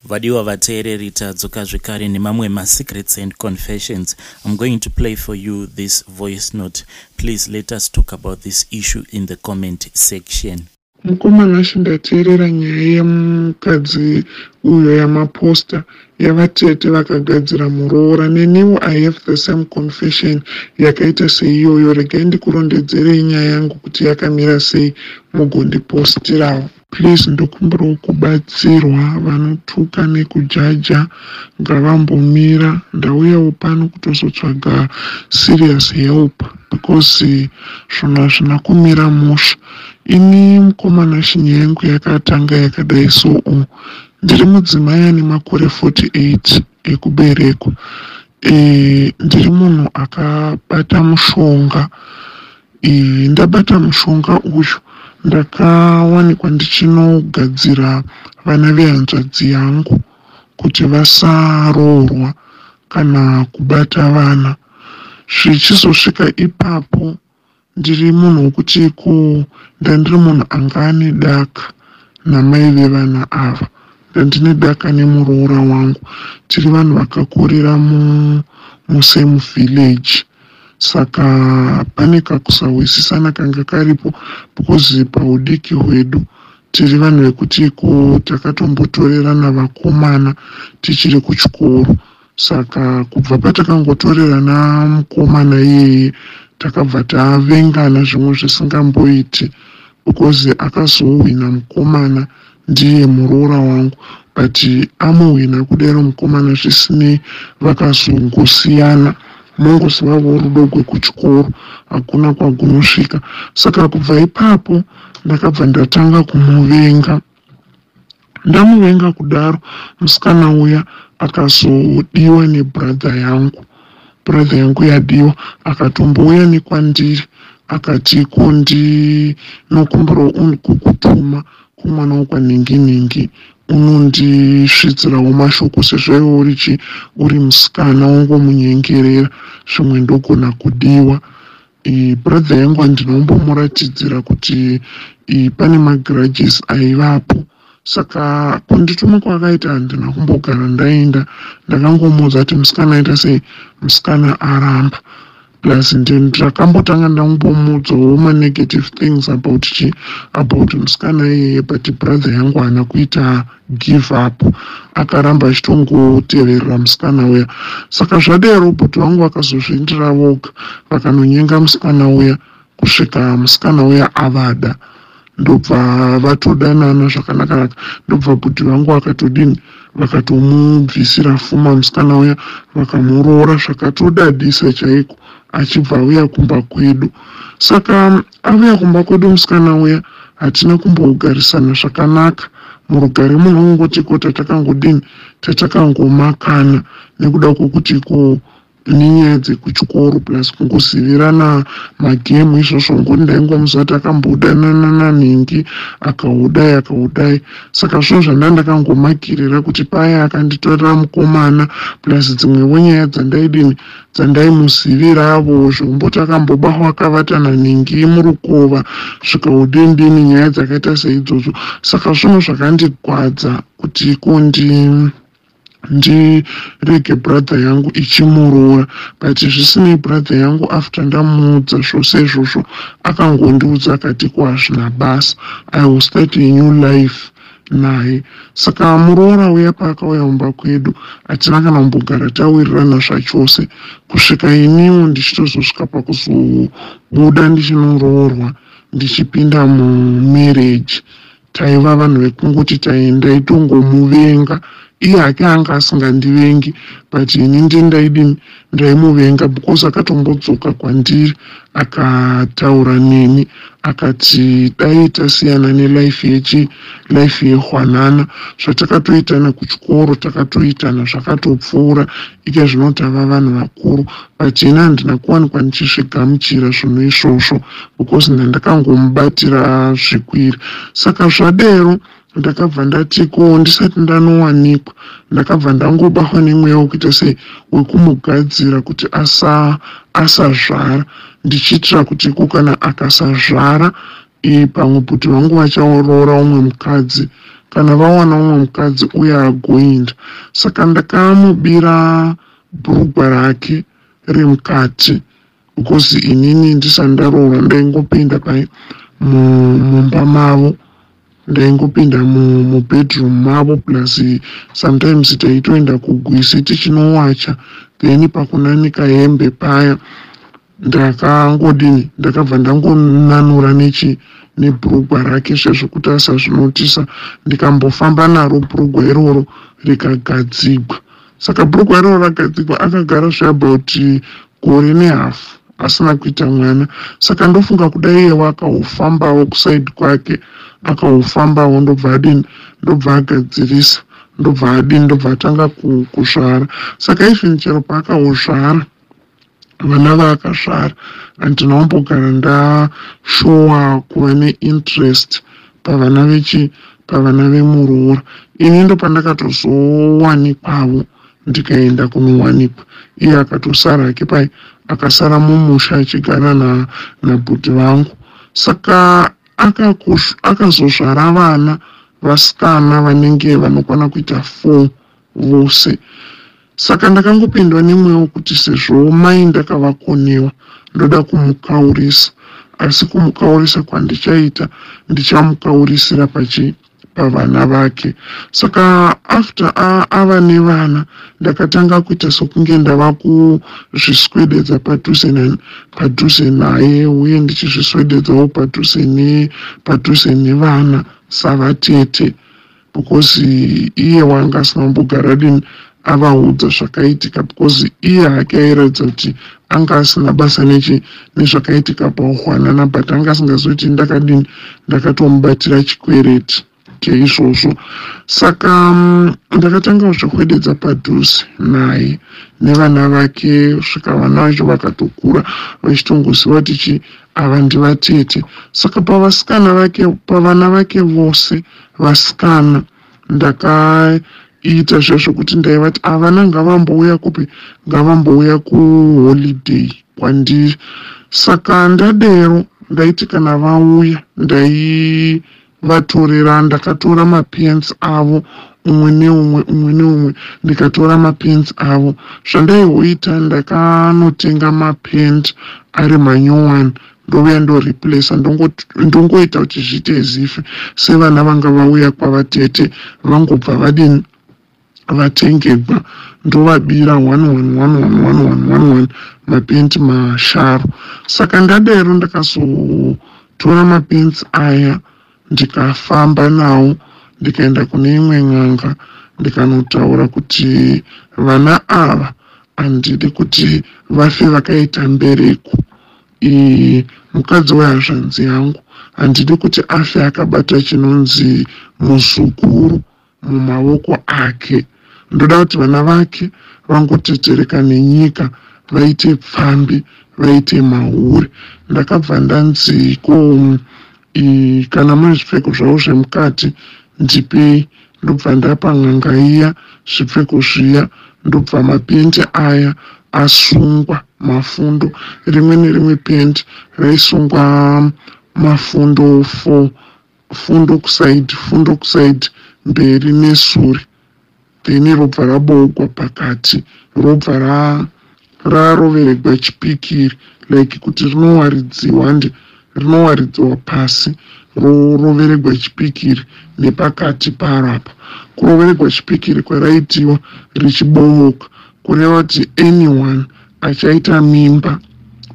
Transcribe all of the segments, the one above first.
Vadiwa vateereri tadzoka zvekare nemamwe masecrets and confessions. I'm going to play for you this voice note. Please let us talk about this issue in the comment section. Mukoma Nashy ndateerera nyaya yemukadzi uyo yamaposter yavatete vakagadzira muroora neniwo I have the same confession yakaita seiyoyo regai ndikurondedzerei nyaya yangu kuti yakamira sei mugondipostirawo. Please ndokumbirawo kubatsirwa vanotuka nekujaja ngavambomira ndauyawo pano kutozotsvaga serious help because zvinhu hazvina kumira mushe. Ini mukomana shinya yangu yakatanga yakadai so u ndiri mudzimai ane makore 48 ekuberekwa. E, ndiri munhu akabata mushonga. Iyi ndabata mushonga uyu ndakawanikwa ndichinogadzira vana vehanzvadzi yangu kuti vasaroorwa kana kubata vana zvichizosvika ipapo ndiri munhu wokuti ko ndandiri munhu anga ane daka namai vevana ava ndandine daka nemuroora wangu tiri vanhu vakakurira musame village saka pane kakusahwisisana kanga karipo because paudiki hwedu tiri vanhu vekuti ko takatombotorerana vakomana tichiri kuchikoro saka kubva patakangotorerana mukomana iyeye takabva tavengana zvimwe zvisingamboiti because akazohwina mukomana ndiye muroora wangu but amuhwina kudero mukomana zvisinei vakazongosiyana mongozivavo rudo gwekuchikoro hakuna kwagunosvika saka kubva ipapo ndakabva ndatanga kumuvenga ndamuvenga kudaro musikana uya akazodiwa nebradha yangu bradha yangu yadiwa akatombouya nekwandiri akati ko ndinokumbirawo kukutuma Komana wekwanhinginhingi unondisvitsirawo mashoko sezvo iwe uri chi uri musikana wongomunyengerera zvimwe ndogona kudiwa brother yangu handina kumbomuratidzira kuti pane magrudges aivapo saka kundituma kwakaita handina kumbogara ndaenda ndakangomuudza kuti musikana aita sei musikana aramba plus ndini ndakambotanga ndambomuudzawo manegative things about chi about musikana iyeye but brother yangu haana kuita give up akaramba achitongoteverera musikana uya saka zvadero robot vangu vakazozviindira voga vakanonyenga musikana uya kusvika musikana uya avada ndobva vatodanana zvakanakanaka ndobva bhudhi vangu vakatodini vakatomubvisira fuma musikana uya vakamuroora zvakatodadisa chaiko achibva auya kumba kwedu saka avuya kumba kwedu musikana uya hatina kumbogarisana zvakanaka murugare munhu ungoti ko tatakangodini tatakangomakana nekuda kwokuti ko nenyaya dzekuchikoro plus kungozivirana magemu izvozvo ngokuti ndaingomusati akambodananana nhingi akaudai akaudai saka zvinhu zvanda ndakangomagirira kuti paya akanditorera mukomana plus dzimwevo nyaya dzandaidini dzandaimuziviravo zvekumboti akambobahwa akavatana nhingi murukova zvikaudindini nyaya dzakaita seidzodzo saka zvinhu zvakandigwadza kuti kundi ndirege brother yangu ichimuroora but zvisinei brother yangu after ndamuudza zvose izvozvo akangondiudza akati ko hazvina basa i will start a new life naye saka muroora uya paakauya mumba kwedu hatina kana kumbogara tawirirana zvachose kusvika iniwo ndichitozosvika pakuzobuda ndichinoroorwa ndichipinda mumarriage taiva vanhu vekungoti taendai tongomuvenga iye hake anga asingandivengi but ini ndi ndaidini ndaimuvenga because akatombodzoka kwandiri akataura neni akati dai tasiyana nelife yechi life yehwanana zvatakatoitana kuchikoro takatoitana zvakatopfuura ike zvino tava vanhu vakuru pachena handina kuwanikwa ndichizvigamuchira zvinhu izvozvo because ndandakangomubatira zvikwiri saka zvadero ndakabva ndati ko ndisati ndanowanikwa ndakabva ndangobahwa nemweya wekuita se wekumugadzira kuti asa asazvara ndichiitira kuti ko kana akasazvara pamwe kuti vangu vachaoroora umwe mukadzi kana vawana umwe mukadzi uye agoinda saka ndakamubira bhurugwa rake remukati because inini ndisati ndaroora ndaingopinda pai mumba mavo ndaingopinda mubedroom mavo plus sometimes taitoenda kugwisi tichinowacha then pakunanika hembe paya ndakangodini ndakabva ndangonanura nechi nebhurugwa rake sezvokuti asazvinotisa ndikambofamba naro bhurugwa iroro rikagadzigwa saka bhurugwa iroro ragadzigwa akagara zveabout gore nehafu asina kuita mwana saka ndofunga kuda iyewo akahofambawo kusaidi kwake akahofambawo ndobva adini ndobva agadzirisa ndobva adini ndobva atanga kusvara saka even chero paakahozvara vana vaakasvara handina kumbogara ndashowa kuva neinterest pavana vechi pavana vemuroora ini ndopandakatozowanikwawo ndikaenda kunowanikwa iye akatosara hake pai akasara mumusha achigara na, nabhuti vangu saka akazozvara vana vasikana vanenge vanokwana kuita four vose saka ndakangopindwa nemweya wekuti sezvowo mai ndakavakonewa ndoda kumukaurisa asi kumukaurisa kwandichaita ndichamukaurisira pachi pavana vake saka after ava nevana ndakatanga kuita sokunge ndava kuzviswededza padhuze padhuze naye uye ndichizviswededzawo padhuze padhuze nevana savatete because iye wanga asina kumbogara din avaudza zvakaitika because iye hake airatidza kuti anga asina basa nechi nezvakaitika pauhwanana but anga asingazoti ndakadini ndakatomubatira chikwereti chaizvozvo saka mm, ndakatanga kuzvihwededza padhuze naye nevana vake svika vana vacho vakatokura vachitongoziva kuti chi ava ndivatete saka pavasikana vake pavana vake vose Vasikana ndakaita zviya zvekuti ndaivati avana ngavambouya kupi ngavambouya kuholiday kwandiri saka ndadero ndaiti kana vauya ndaivatorera ndakatora mapens avo umwe neumwe umwe neumwe ndikatora mapens avo zvandaihoita ndakanotenga mapent ari manyowani ndouya ndoreplacer ndongoita kuti zviite ezife sevana vanga vauya kwavatete vangobva vadini vatengegwa ndovabira one one one one one one one one mapenti masharo saka ndadero ndakazotora mapenti aya ndikafamba nawo ndikaenda kune imwe n'anga ndikanotaura kuti vana ava handidi kuti vafe vakaita mbereko Iye mukadzi wehazvanzi yangu handidi kuti afe akabata chinonzi muzukuru mumaoko ake. Ndoda kuti vana vake vangotetereka nenyika vaite pfambi vaite mahure. Ndakabva ndanzi ko Ii, kana mune zvipfeko zvavo zvemukati ndipei ndobva ndapa n'anga iya zvipfeko zviya ndobva mapendi aya asungwa mafundo rimwe nerimwe pendi raisungwa mafundo four fundo kusaidi fundo kusaidi mberi nesuri then robva raboogwa pakati robva ra raroveregwa chipikiri like kuti rinowaridziwa hande rinowaridziwa pasi roroveregwa chipikiri nepakati paro apa kuroveregwa chipikiri kwaraitiwa richibooka kureva kuti anyone achaita mimba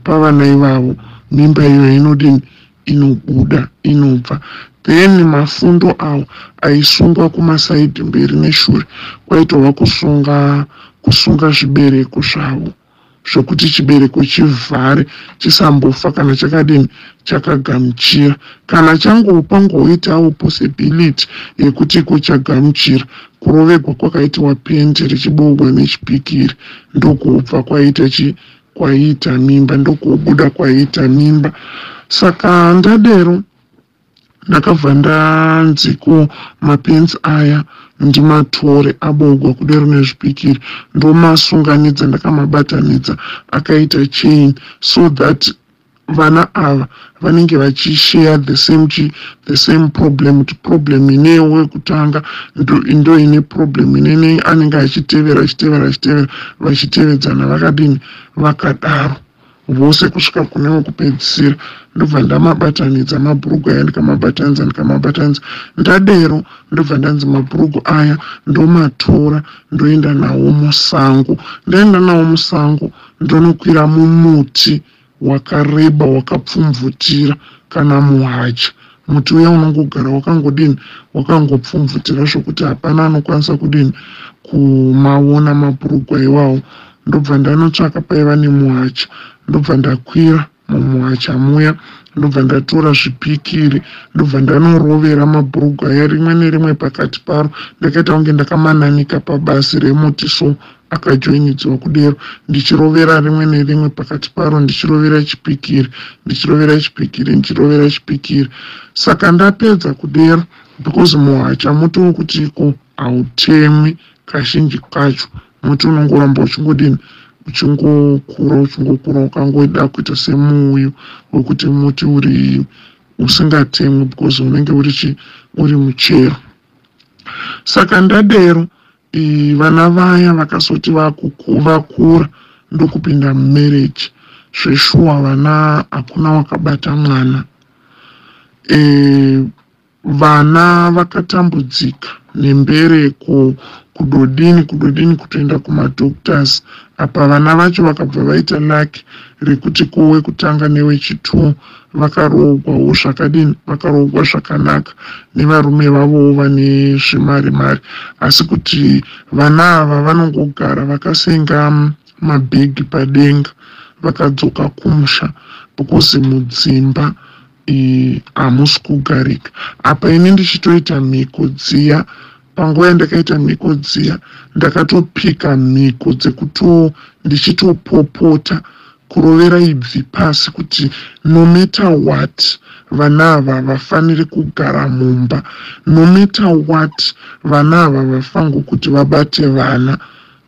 pavana ivavo mimba iyoyo inodini inobuda inobva then mafundo awo aisungwa kumasaidhi mberi neshure kwaitova kusunga kusunga zvibereko zvavo zvekuti chibereko chivhare chisambofa kana chakadini chakagamuchira kana changowo pangoitawo possibility yekuti iko chagamuchira kurovegwa kwakaitiwa pendi richiboogwa nechipikiri ndokubva kwaita chi kwaiita mimba ndokubuda kwaiita mimba saka ndadero ndakabva ndanzi ko mapenzi aya ndimatore abogwa kudero nezvipikiri ndomasunganidza ndakamabatanidza akaita chain so that vana ava vanenge vachishare the same chi the same problem kuti problem ine wekutanga ndo ine problem inene anenge achitevera achitevera achitevera vachitevedzana vakadini vakadaro vose kusvika kune wekupedzisira ndobva ndamabatanidza mabhurugu aya ndikamabatanidza ndikamabatanidza ndadero ndobva ndanzi mabhurugu aya ndomatora ndoenda nawo musango ndaenda nawo musango ndonokwira mumuti wakareba wakapfumvutira kana muhacha muti uya unongogara wakangodini wakangopfumvutira zvokuti hapana anokwanisa kudini kumaona mabhurugwa iwawo ndobva ndanotsvaka paiva nemuhacha ndobva ndakwira mumuhacha muya ndobva ndatora zvipikiri ndobva ndanorovera mabhurugwa aya rimwe nerimwe pakati paro ndakaita kunge ndakamananika pabasi remuti so akajoinidzwa kudero ndichirovera rimwe nerimwe pakati paro ndichirovera chipikiri ndichirovera chipikiri ndichirovera chipikiri saka ndapedza kudero because muhacha muti wokuti iko hautemwi kazhinji kacho muti unongoramba uchingodini uchingokura uchingokura ukangoda kuita semuuyu wekuti muti uri usingatemwi because unenge uri chi uri muchero saka ndadero Ii vana vaya vakazoti vakura ndokupinda mumarriage zveshuwa vana hakuna wakabata mwana e, vana vakatambudzika nembereko kudodini kudodini kutoenda kumadoctors apa vana vacho vakabva vaita laki rekuti kowe kutanga newechitwo vakaroogwawo zvakadini vakaroogwa zvakanaka nevarume vavowo vane zvemari mari asi kuti vana ava vanongogara vakasenga mabhegi padenga vakadzoka kumusha because mudzimba hamusi kugarika apa ini ndichitoita mhiko dziya Panguva yandakaita mhiko dziya ndakatopika mhiko dzekuto ndichitopopota kurovera ibvi pasi kuti no matter what vana ava havafaniri kugara mumba no matter what vana ava havafango kuti vabate vana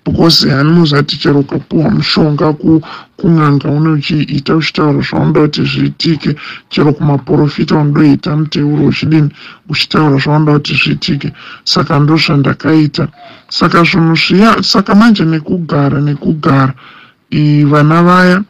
because hani muzati chero ukapuwa mushonga kun'anga unochiita uchitaura zvaunoda kuti zviitike chero kumaporofita unodoita muteuro uchidini uchitaura zvaunoda kuti zviitike saka ndozvandakaita saka zvinhu zviya saka manje nekugara nekugara vana vaya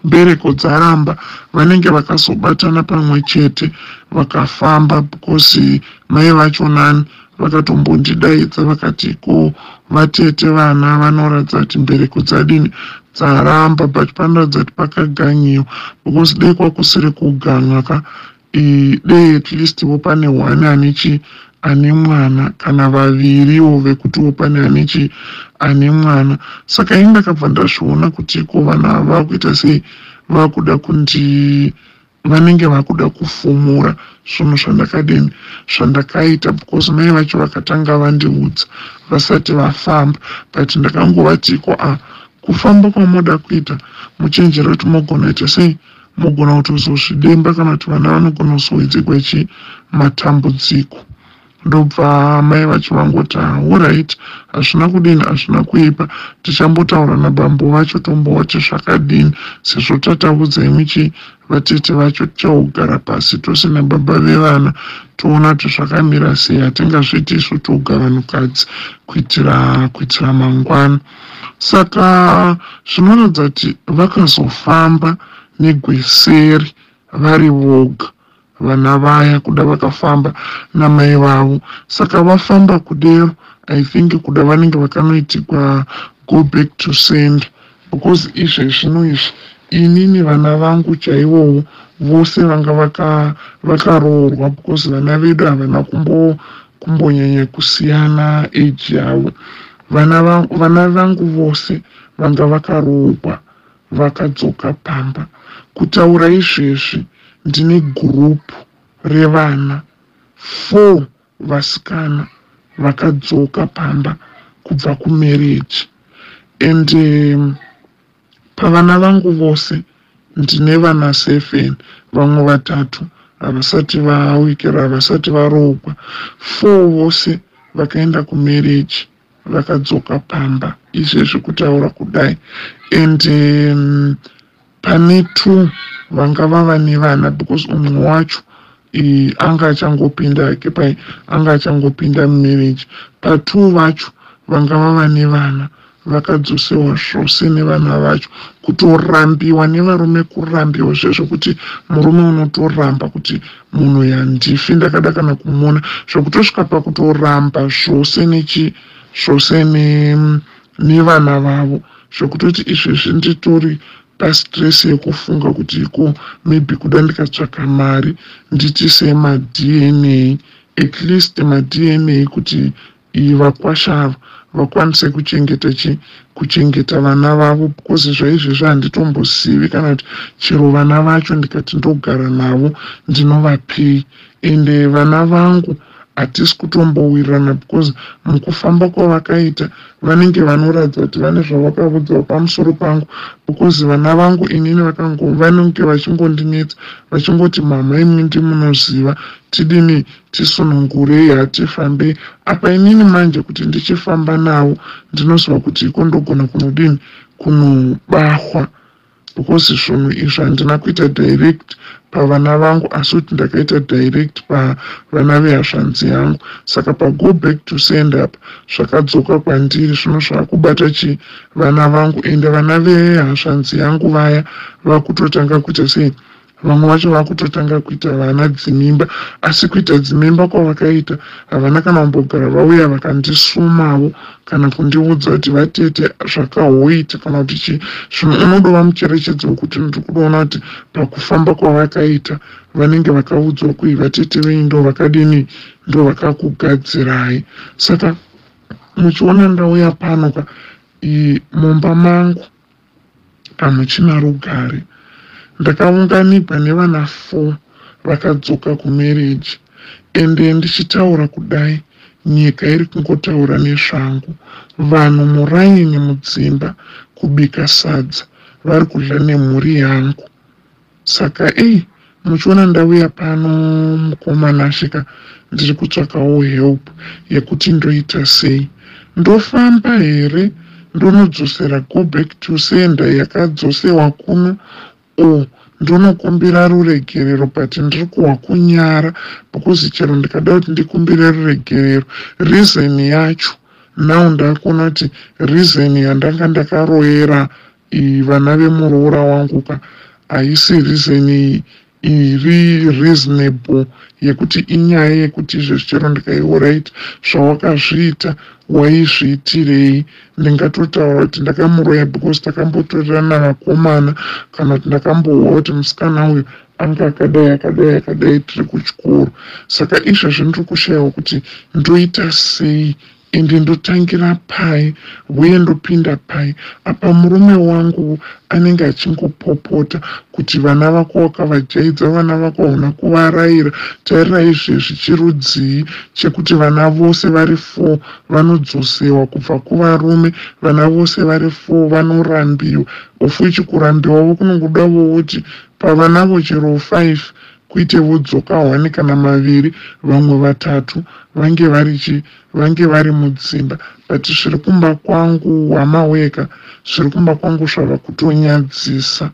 mbereko dzaramba vanenge vakazobatana pamwe chete vakafamba because mai vacho nani vakatombondidaidza vakati ko vatete vana vanoratidza kuti mbereko dzadini dzaramba but panoratidza kuti pakaganyiwa because dai kwakusiri kuganwa ka dei at least wo pane one ane chi ane mwana kana vaviriwo vekuti wo pane ane chi ane mwana saka ini ndakabva ndazviona kuti ko vana ava vakuita sei vakuda kundi vanenge vakuda kufumura zvinhu zvandakadini zvandakaita because mai vacho vakatanga vandiudza vasati vafamba but ndakangovatiko a ah, kufamba kwamoda kuita muchenjere kuti mogona ita sei Mogona kutozozvidemba kana kuti vana vanogona kuzowedzegwa chii matambudziko ndobva mai vacho vangoti horit hazvina kudini hazvina kuipa tichambotaura nabambo vacho tombowa kuti zvakadini sezvo tataudza imi chii vatete vacho tichagara pasi tose nababa vevana toona kuti zvakamira sei hatingazviiti isu toga vanhukadzi kuitira kuitira mangwana Saka zvinoratidza kuti vakazofamba negweseri vari voga vana vaya kuda vakafamba namai vavo saka vafamba kudero i think kuda vanenge vakanoitikwa go back to send because izve zvino izvi ini nevana vangu chaivowo vose vanga vakaroorwa because vana vedu havana kumbonyanya kusiyana age yavo Vana vangu, vana vangu vose vanga vakaroogwa vakadzoka pamba. Kutaura izvezvi ndine group revana four vasikana vakadzoka pamba kubva kumarriage and um, Pavana vangu vose ndine vana seven, vamwe vatatu havasati vaawikira, havasati varoogwa. Four vose vakaenda kumarriage vakadzoka pamba izvezvi kutaura kudai and um, pane two vanga vava nevana because umwe wacho Eh, anga achangopinda hake pai anga achangopinda mumarriage patwo vacho vanga vava nevana vakadzosewa zvose nevana vacho kutorambiwa nevarume kurambiwa zvezvekuti murume unotoramba kuti munhu yandifi ndakada kana kumuona zvekutosvika pakutoramba zvose nechi zvose nevana vavo zvekutoti izvezvi nditori pastress yekufunga kuti iko maybe kuda ndikatsvaka mari nditise madna at least madna kuti iyi vakwasha ava vakwanise kuchengeta chi kuchengeta vana vavo because zvaizvezvi handitombozivi kana kuti chero vana vacho ndikati ndogara navo ndinovapei ende vana vangu hatisi kutombowirirana because mukufamba kwavakaita vanenge vanoratidza kuti vane zvavakavudzawo pamusoro pangu because vana vangu inini vanenge vachingondinetsa vachingoti mama imwe ndimunoziva tidini tisunungurei hatifambei apa inini manje kuti ndichifamba navo ndinoziva kuti iko ndogona kunodini kunobahwa because zvinhu izvi handina kuita direct pavana vangu asi kuti ndakaita direct pavana vehazvanzi yangu saka pago back to send up zvakadzoka kwandiri zvino zvakubata chi vana vangu ende vana vehazvanzi yangu vaya vakutotanga kuita sei vamwe vacho vakutotanga kuita vana dzimimba asi kuita dzimimba kwavakaita havana kana kumbogara vauya vakandisumavo kana kundiudza kuti vatete zvakahoiti kana kuti chii zvino unodova mucherechedzo wekuti ndiri kudoona kuti pakufamba kwavakaita vanenge vakaudzwa kui vatete venyu ndo vakadini ndo vakakugadzirai saka muchiona ndauya pano ka mumba mangu hamuchina rugare. Ndakaunganigwa nevana four vakadzoka kumarriage ende ndichitaura kudai nyika iri kungotaura nezvangu. Vanhu muraini mudzimba kubika sadza vari kudya nemhuri yangu. Saka ei muchiona ndauya pano mukoma Nashe ka ndiri kutsvakawo help yekuti ndoita sei. Ndofamba here ndonodzosera go back to sender yakadzosewa kuno or ndonokumbira ruregerero but ndiri kuhwa kunyara because chero ndikada kuti ndikumbire ruregerero reason yacho now ndakuona kuti reason yandanga ndakaroyera iyi vana vemuroora wangu ka haisi reason iyi iri reasonable yekuti inyaya yekuti izvezvi chero ndikaiwo right zvawakazviita waizviitirei ndingatotaura kuti ndakamuroya because takambotorerana vakomana kana kuti ndakambohwa kuti musikana uyu anga akadai akadai akadai tiri kuchikoro saka izvezvi ndiri kushayawo kuti ndoita sei ende ndotangira pai huye ndopinda pai apa murume wangu anenge achingopopota kuti vana vako wakavajaidza vana vako hauna kuvaraira tarira izvezvi chirudzii chekuti vana vose vari four vanodzosewa kubva kuvarume vana vose vari four vanorambiwa of which kurambiwa vokunongoda vouti pavanavo chero five kwete vodzoka one kana maviri vamwe vatatu vange vari chi vange vari mudzimba but zviri kumba kwangu hama weka zviri kumba kwangu zvava kutonyadzisa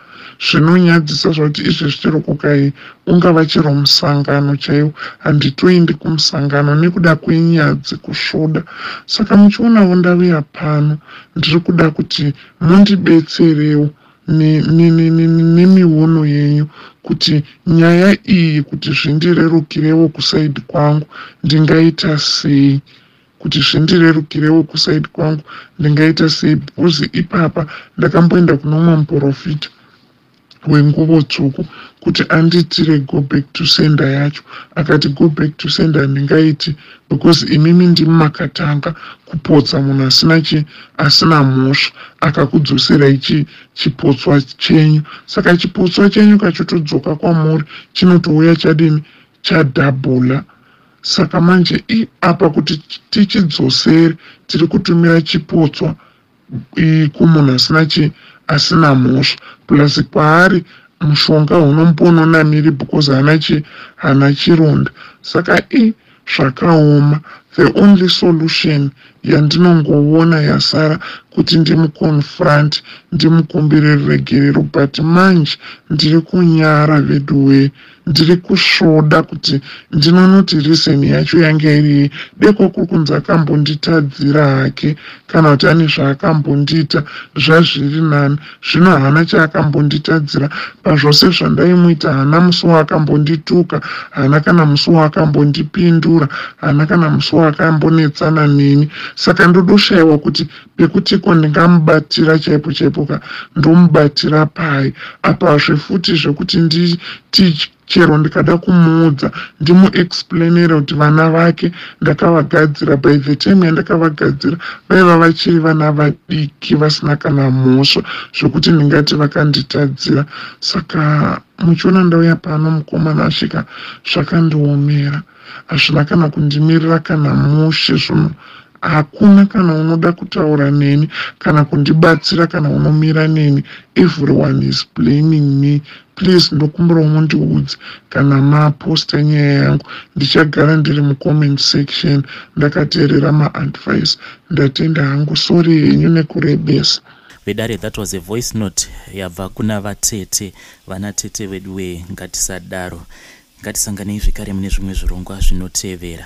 zvinonyadzisa zvakuti izvezvi chero kukai ungava chero musangano chaiwo handitoindi kumusangano nekuda kwenyadzi kusvoda saka muchionavo ndavuya pano ndiri kuda kuti mundibetserewo nemiono yenyu kuti nyaya iyi kuti zvindirerukirewo kusaidi kwangu ndingaita sei kuti zvindirerukirewo kusaidi kwangu ndingaita sei because ipapa ndakamboenda kuno mumwe muprofita wenguvo tsvuku kuti andiitire go back to sender yacho akati go back to sender ndingaiti because imimi ndimi makatanga kupotsa munhu asina chi asina mhosva akakudzoserai chi chipotswa chenyu saka chipotswa chenyu kachotodzoka kwamuri chinotouya chadini chadhabhula saka manje i apa kuti tichidzosere tiri kutumira chipotswa kumunhu asina chi asina mhosva plus kwaari mushonga hunomupa unonamiri because hana chi hana chironda saka i zvakaoma the only solution yandinongoona yasara kuti ndimuconfront ndimukumbire ruregerero but manje ndiri kunyara veduwee ndiri kusvoda kuti ndinonoti reason yacho yanga iri yei deko kuri kunzi akambonditadzira hake kana kuti ane zvaakambondiita zvazviri nani zvino haana chaakambonditadzira pazvose zvandaimuita haana musi waakambondituka haana kana musi waakambondipindura haana kana musi waakambonetsana neni saka ndodoshayiwa kuti pekuti ko ndingamubatira chaipo chaipo ka ndomubatira pai apazve futi zvekuti nditi chero ndikada kumuudza ndimuexplainere kuti vana vake ndakavagadzira by the time yandakavagadzira vaiva vachiri vana vadiki vasina kana mhosva zvekuti ndingati vakanditadzira saka muchiona ndauya pano mukomana asvika zvakandiomera hazvina kana kundimirira kana mushe zvino Hakuna kana unoda kutaura neni kana kundibatsira kana unomira neni everyone is blaming me please ndokumbirawo mundiudze kana maposta nyaya yangu ndichagara ndiri mucomment section ndakateerera maadvice ndatenda hangu sorry henyu nekurebesa vedare that was a voice note yabva kuna vatete vana tete vedu wee ngatisadaro ngatisanganei zvekare mune zvimwe zvirongwa zvinotevera